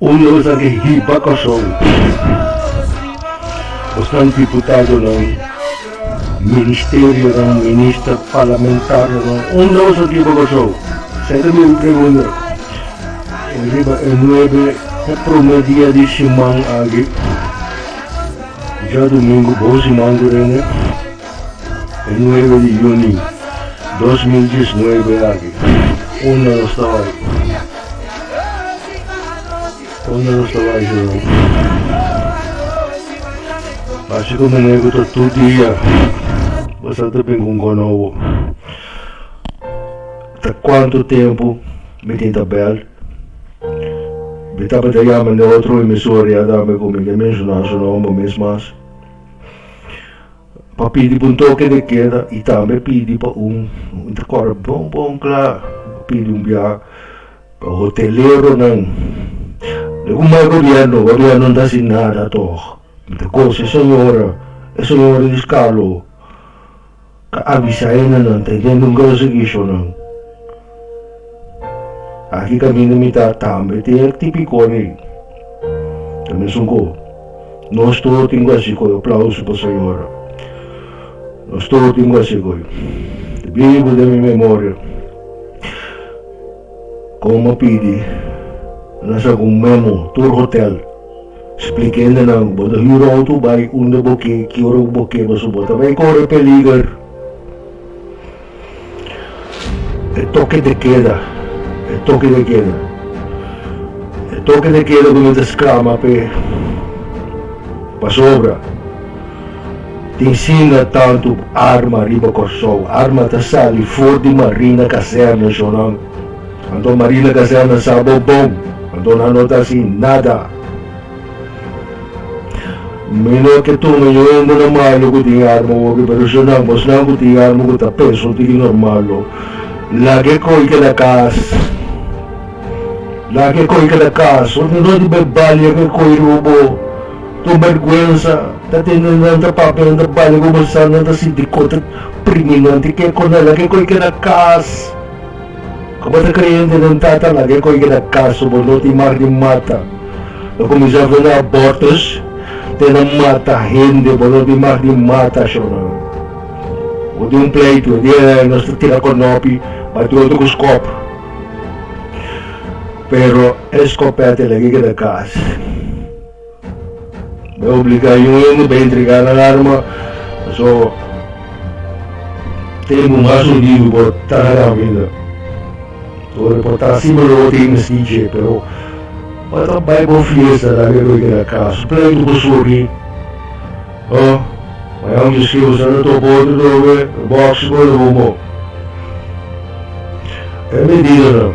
Un nos a di hiba koson ku esnan diputadonan, ministerionan, minister, parlamentarionan, un nos a di hiba koson, sete mi mi pregunta riba e nuebe e prome dia di siman aki, djadomingu, bou siman ku rende. E nuebe di yuni dos mil diesnuebe aki, unda nos ta bai? Unda nos ta bai segun? Hasi ku muñeku ta tur dia bo sa ta bin ku un kono bo. Ta kuantu tempu mi tin tabel? Mi tabata yama den otro emisora ya dame ku mi ta menshona su nomber mes mas. Pa pidi bo un toke de keda y tambe pidi pa un intercorder bon bon cla pidi un bia pa hoteleronan de cu mai gobierno gobierno no ta haci nada toch mi ta coge e señora e señora di scalo ca avisa ena nan ta intenta un grocery show nan. Aki ta bini mita tambe tin e tipikon ei. Ta mesun ku nos tur tin ku hasi goi. Aplauso pa Sayora. Nos tur tin ku hasi goi. Ta bibu den mi memoria kon bo pidi nan sa ku memo tur hotel splikende nan ku bo ta hura outo bai unda bo ke, ki ora ku bo ke pasobra bo ta bai kore peliger. E toke de keda, e toke de keda, e toke de keda ku no ta skrama p'e pasobra tin sinda tantu arma riba Kòrsou. Arma ta sali for di Marina Kazèrna shonòm. Anto Marina Kazèrna sa bo bon, anto nan no ta hasi nada. Mi no ke tuma yu hende na malu ku tin arma hopi, pero si nan, bosnan ku tin arma ku ta peso tiki normal lo, laga e koi keda kas. Laga e koi keda kas. Hopi no di bai balia ku e koi riba bo. Kon bèrgwensa ta tende nan ta papia, nan ta balia ku bo sa, nan ta sinti kon ta primi nan. Ti ke konta laga e koi keda kas. Ku bo ta kreyente den Tata, laga e koi keda kaso bo, no tin mar di mata. Lo kuminsá vela abòrtus te na mata hende, bo no tin mar di mata ashona. Bo tin un pleitu, e dia ei nos ta tira konòpi bati otro ku skòp, pero e skòpèt ei laga e keda kas. Bo a obliga yu hende pa entregá nan arma, pasobra bo ta limpu mas hundidu, bo ta na kaminda. Ora bo ta así bo lo bo ta e mestí dje, pero bo ta bai pa un fiesta laga bo e keda kas, pleitu ku suki, o mañana un dje skei bo sa ta topa otro tobe, bòks bo lo bo mo. E medidanan.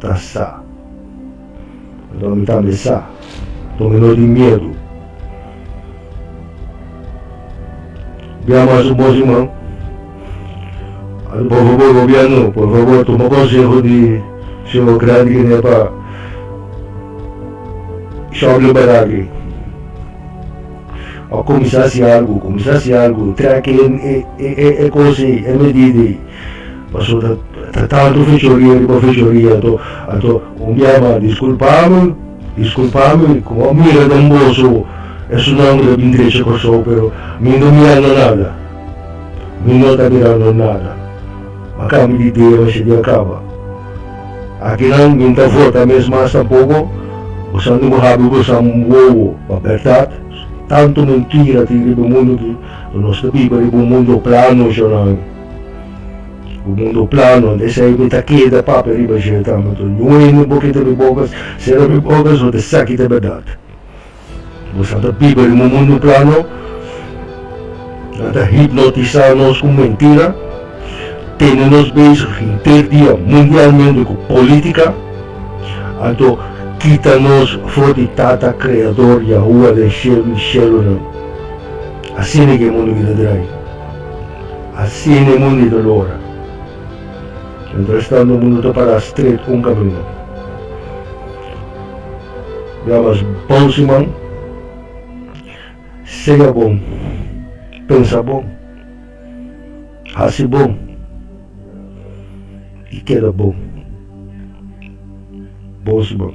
ta sa. Anto mi tambe sa, anto mi no tin miedu. Bia mas ku bos, iman. Por fabor, gobièrnu, por fabor tuma konseho di su operan di Guinea pa shòbli baraki. Kuminsá hasi algu, kuminsá hasi algu. Trèk e kos ei, e medida ei. Paso ta tantu fechoria riba fechoria, anto, anto, un bia mas, disculpami, disculpami, ku bo a mira den boso, esunnan ku ta bin drecha Kòrsou, pero mi no mirando nada, mi no ta mirando nada, a kambio di dia mester di a kaba. Akinan mi no ta vota mes mas tampoko, boso no bo habi boso wowo, pa bèrdat, tantu mentira tin riba e mundu aki, nos ta biba riba un mundu plano, shonami. Ku mundo plano e esei mi ta keda papia riba jel tambe tur. Ñueni bo kita mi bokas, sera mi bokas bo ta sa ki ta berdad. Bo sa ta biba riba un mundo plano. Nan ta hipnotisá nos ku mentira, tene nos bezig henter dia mundialmente ku polítika. Anto kita nos for di Tata Kreador Yahua den shelu i shelunan. Asina ke e mundo kita drai. Asina e mundu ta lora. Mientras tanto mundu ta pará stret un caminda. Ya mas bon su man. Sega bon. Pensa bon. Haci bon. Y keda bon. Bon su man.